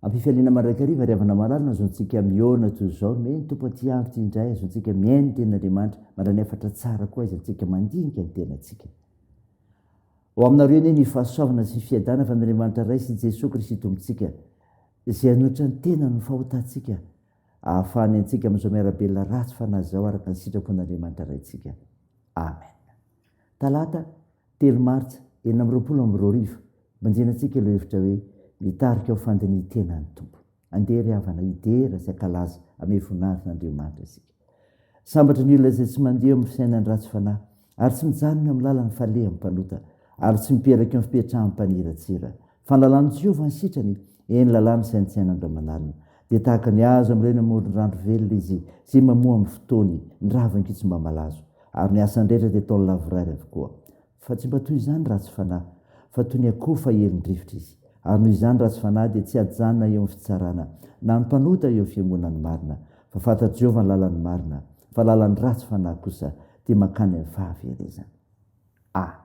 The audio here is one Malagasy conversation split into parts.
Ampifaliana mandrakariva ry havana malala nazoantsika mihaona toy izao ny hoe ny tompo aty andro ity indray azoantsika mihaino ny tenin'Andriamanitra mandra ny hafatra tsara koa aiza antsika mandinika ny tenantsika. Ho aminareo anie ny fahasoavana sy fiadana avy amin'Andriamanitra Ray sy Jesoa Kristy Tompontsika, izay hanohitra ny tenany ny fahotantsika, hahafahany antsika amin'izao miara-belona ratsy fanahy izao araka ny sitrapon'Andriamanitra Raintsika. Amen. Talata, telo martsa, enina amby roapolo amby roa arivo, Mandinantsika ilay hevitra hoe, Mitarika ho fandinihan-tena ny Tompo. Andeha ry havana hidera sy hankalaza ame voninahitr' Andriamanitra isika. Sambatra ny olona izay tsy mandeha eo amin'ny fiainan'ny ratsy fanahy ary tsy mijanona eo amin'ny lalan'ny falehan'ny mpanota ary tsy mipetrak' eo amin'ny fipetrahan'ny mpaniratsira. Fa ny lalàn'i Jehovah ny sitrany, eny, lalàna saintsaina andriamanalina. Dia tahaka ny hazo ambolena eo amoron-drandro velona izy, izay mamoa amin'ny fotoany ny ravin-kitsomba malazo, ary ny asany rehetra dia ataony lavorary avokoa. Fa tsy mba toy izany ratsy fanahy, fa toy ny akoho fahelin-drivotra izy, ary noho izany ratsy fanahy dia tsy hajanona eo amin'ny fitsarana, na ny mpanota eo amin'ny fiangonan'ny marina, fa fantatr'i Jehovah ny lalan'ny marina, fa lalan'ny ratsy fanahy kosa dia mankany amin'ny fahaverezana. Amen.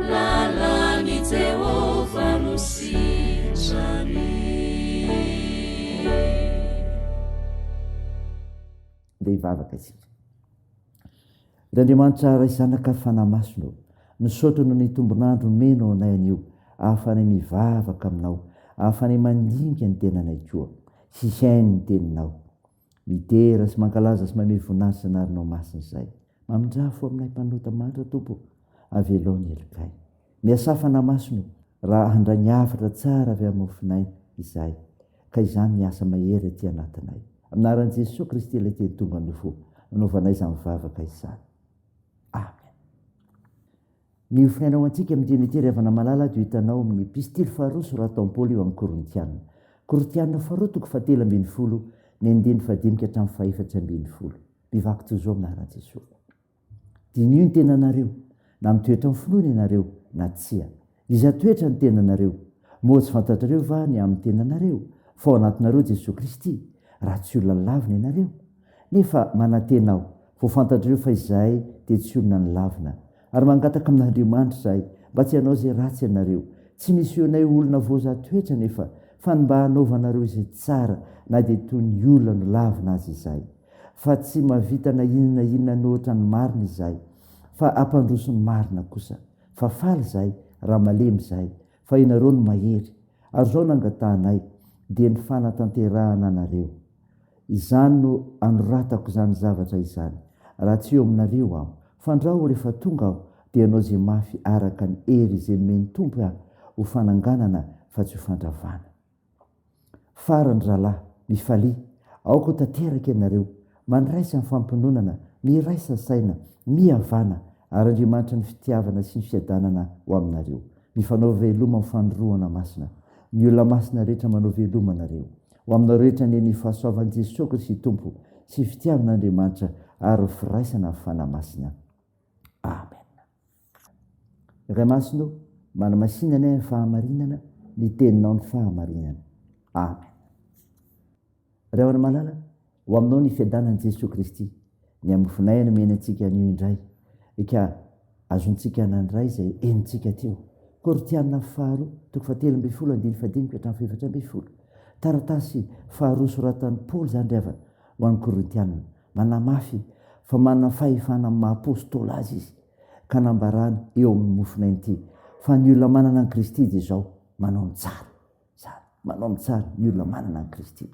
Lalan'i Jehovah no sitrany. Dia hivavaka isika. Ry Andriamanitra Ray Zanaka Fanahy Masina ô, misaotra noho ny tombon'andro omenao anay anio ahafahanay mivavaka aminao, ahafahanay mandinika ny tenanay koa sy hihaino ny teninao. Midera sy mankalaza sy mamehy voninahitsy izay anarinao masina izay. Mamindraha fo aminay mpanota manitra Tompo ô, avelao ny helokay. Miasà fanamaso no raha handray ny hafatra tsara avy amin'ny mofonay izahay ka izany ny asa mahery aty anatinay. Amin'ny anaran'i Jesoa Kristy ilay teny tonga nofo, nanaovanay izany vavaka izany. Amen. Ny hofiainana ho antsika amin'ny dian'ity ry havana malala dia ho hitanao amin'ny Epistily faharoa soratan'i Paoly ho an'ny Korintiana. Korintiana faharoa toko fahatelo ambin'ny folo, ny andininy fahadimy ka hatramin'ny fahaefatra ambin'ny folo. Mivaky toy izao aminà raha tsy esorina. Diniho ny tenanareo, na mitoetra amin'ny finoana ianareo na tsia. Iza toetra ny tenanareo? Moa tsy fantatrareo va ny amin'ny tenanareo, fa ao anatinareo Jesoa Kristy, raha tsy olona lavina ianareo? Nefa manantena aho, vao fantatrareo fa izahay dia tsy olona nilavina. Ary mangataka amin'Andriamanitra izahay mba tsy hanao izay ratsy ianareo. Tsy nisehoanay ho olona voazaha toetra anefa, fa ny mba hanaovanareo izay tsara, na dia toy ny olona nolavina aza izahay. Fa tsy mahavita na inona na inona an'ohatra ny marina izahay, fa hampandroso ny marina kosa. Fa faly izahay, raha malemy izahay, Fa ianareo no mahery, ary izao no angatahanay, dia ny fanatanterahana anareo. Izany no anoratako izany zavatra izany, raha tsy eo aminareo aho. Fandrao rehefa tonga aho, dia hanao izay mafy araka ny hery izay nomen'ny Tompo ahy, ho fananganana fa tsy ho fandravana. Farany rahalahy, mifalia aoka ho tanteraka ianareo, mandraisa ny fampiononana, miraisa saina, mihavana, ary Andriamanitra ny fitiavana sy ny fiadanana ho aminareo. Mifanao veloma amin'ny fanorohana masina. Ny olona masina rehetra manao veloma anareo. Ho aminao rehetra anie ny fahasoavan'i Jesoa Kristy Tompo sy fitiavan'Andriamanitra ary ny firaisana amin'ny Fanahy Masina. Amen. Ray Masina ô, manamasina anay amin'ny fahamarinana ny teninao ny fahamarinana. Amen. Ray Ora Malala, ho aminao ny fiadanan'i Jesoa Kristy, ny hamofonay no mena antsika anio indray, ka azontsika anan'ny Ray izay henontsika teo. Korotiana faharoa, toko fahatelo ambin'ny folo, andininy fahadimy ka hatramin'ny fahefatra ambin'ny folo. Taratasy faharoa soratan'i Paoly izany ry havana, ho an'ny Korintiana. Manamafy fa manana fahefana amin'ny maha-apôstôly azy izy. ka nambarany eo amin'ny mofona inty fa ny olona manana an'i Kristy dia izao, manao ny tsara. Izany, manao ny tsara ny olona manana an'i Kristy.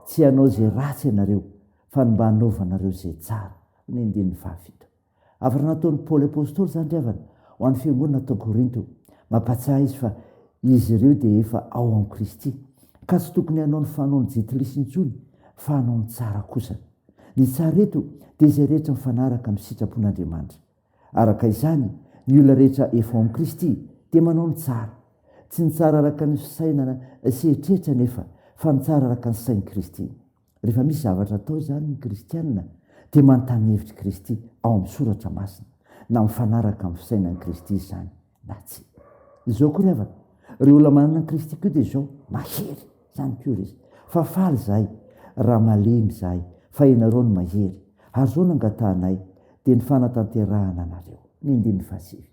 Tsy hanao izay ratsy ianareo fa ny mba hanaovanareo izay tsara. Ny andininy fahafito. Hafatra nataon'i Paoly Apostoly izany ry havana ho an'ny fiangonana tao Korinto. Mampatsiahy izy fa izy ireo dia efa ao amin'i Kristy ka tsy tokony hanao ny fanaon'i Jetilisy intsony fa hanao ny tsara kosa. Ny tsara eto dia izay rehetra mifanaraka amin'ny sitrapon'Andriamanitra. Araka izany, ny olona rehetra efa ao amin'i Kristy dia manao ny tsara. Tsy ny tsara araka ny fisainana sy eritreritra anefa, fa ny tsara araka ny sain'i Kristy. Rehefa misy zavatra atao izany ny kristiana dia manontany ny hevitr'i Kristy ao amin'ny Soratra Masina, na mifanaraka amin'ny fisainan'i Kristy izany. na tsia. Izao koa ry havana, ireo olona manana an'i Kristy koa dia izao, mahery, izany koa ry izy. Fa faly izahay, raha malemy izahay, fa ianareo no mahery, ary izao no angatahanay, dia ny fanatanterahana anareo. Ny andininy fahasivy.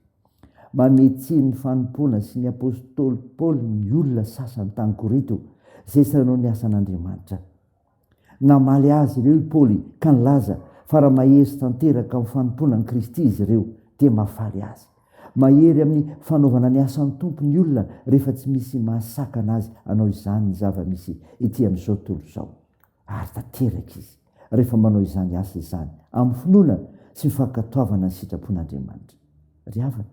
Manome tsiny ny fanompoana sy ny apostoly Paoly ny olona sasany tany Korinto, izay sanao ny asan'Andriamanitra. Namaly azy ireo i Paoly ka nilaza fa raha mahery tanteraka amin'ny fanompoana an'i Kristy izy ireo, dia mahafaly azy. Mahery amin'ny fanaovana ny asan'ny Tompo ny olona rehefa tsy misy mahasakana azy hanao izany ny zava-misy etỳ amin'izao tontolo izao. Ary tanteraka izy rehefa manao izany asa izany amin'ny finoana sy ny fankatoavana ny sitrapon'Andriamanitra. Ry havana,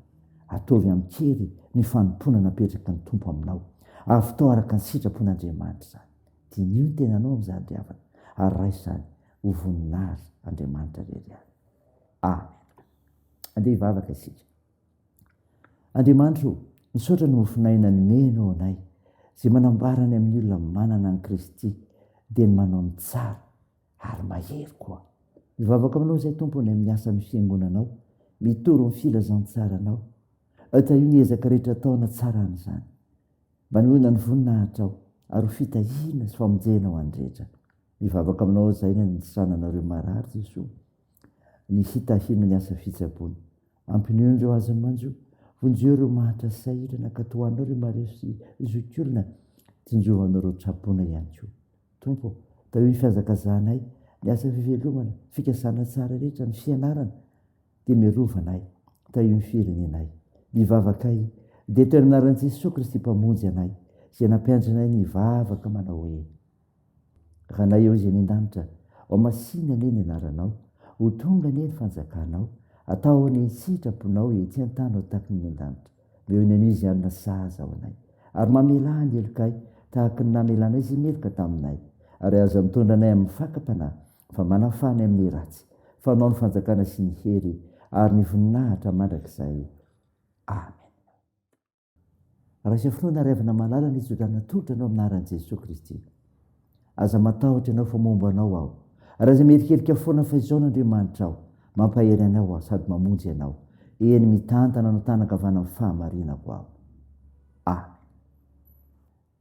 ataovy amin-kery ny fanompoana napetraky ny Tompo aminao. Avottao araka ny sitrapon'Andriamanitra izany. Diniho ny tenanao amin'izany ry havana ary raiso izany ho voninahitr' Andriamanitra irery ihany. Amen. Andeha hivavaka isika. Andriamanitra o, misaotra ny mofon'aina anomenao anay, izay manambara ny amin'ny olona manana an'i Kristy dia ny manao ny tsara ary mahery koa. Mivavaka aminao izay Tompo any amin'ny asa ny fiangonanao, mitory ny filazantsaranao, tahio ny ezaka rehetra atao hanatsarana izany. Manohina ny voninahitrao, ary ho fitahiana sy famonjena ho an'ny rehetra. Mivavaka aminao aho izay ny hanisana anareo marary Jesoa, ny hitahino ny asa fitsabony. Ampinono ireo azon'ny manjo, vonjeo ireo mahatra sahirana, katohanao ireo marefo sy zokiolona, tsinjohanao ireo tsaboina ihany koa. Tompo ô, tahio ny fihazakazahanay, ny asa fivelomana, fikasana tsara rehetra, ny fianarana, dia miarova anay, tahio ny firenenay. Mivavaka ahy, dia teo amin'ny anaran'i Jesoa Kristy Mpamonjy anay, izay nampiandry anay ny hivavaka manao hoe, Ranay ao izay any an-danitra, ao masìna anie ny anaranao, ho tonga anie ny fanjakanao, atao anie ny sitraponao etsy an-tany ho tahaky ny any an-danitra. Omeo ny anio izay hanina sahaza ho anay, ary mamelà ny helokay tahaky ny namelanay izay meloka taminay, ary aza mitondra anay amin'ny fakam-panahy, fa manafaha ny amin'ny ratsy, fanao ny fanjakana sy ny hery ary ny voninahitra mandrakizay. Amen. Raisa finoana ary avana malala ny tsodrano atolotra anao amin'ny anaran'i Jesoa Kristy. Aza matahotra ianao fa momba anao aho. Raiza miherikerika foana fa izao n'Andriamanitra aho, mampahery anao aho sady mamonjy ianao, eny mitantana anao tana ankavanan'ny fahamarinako aho. Amen.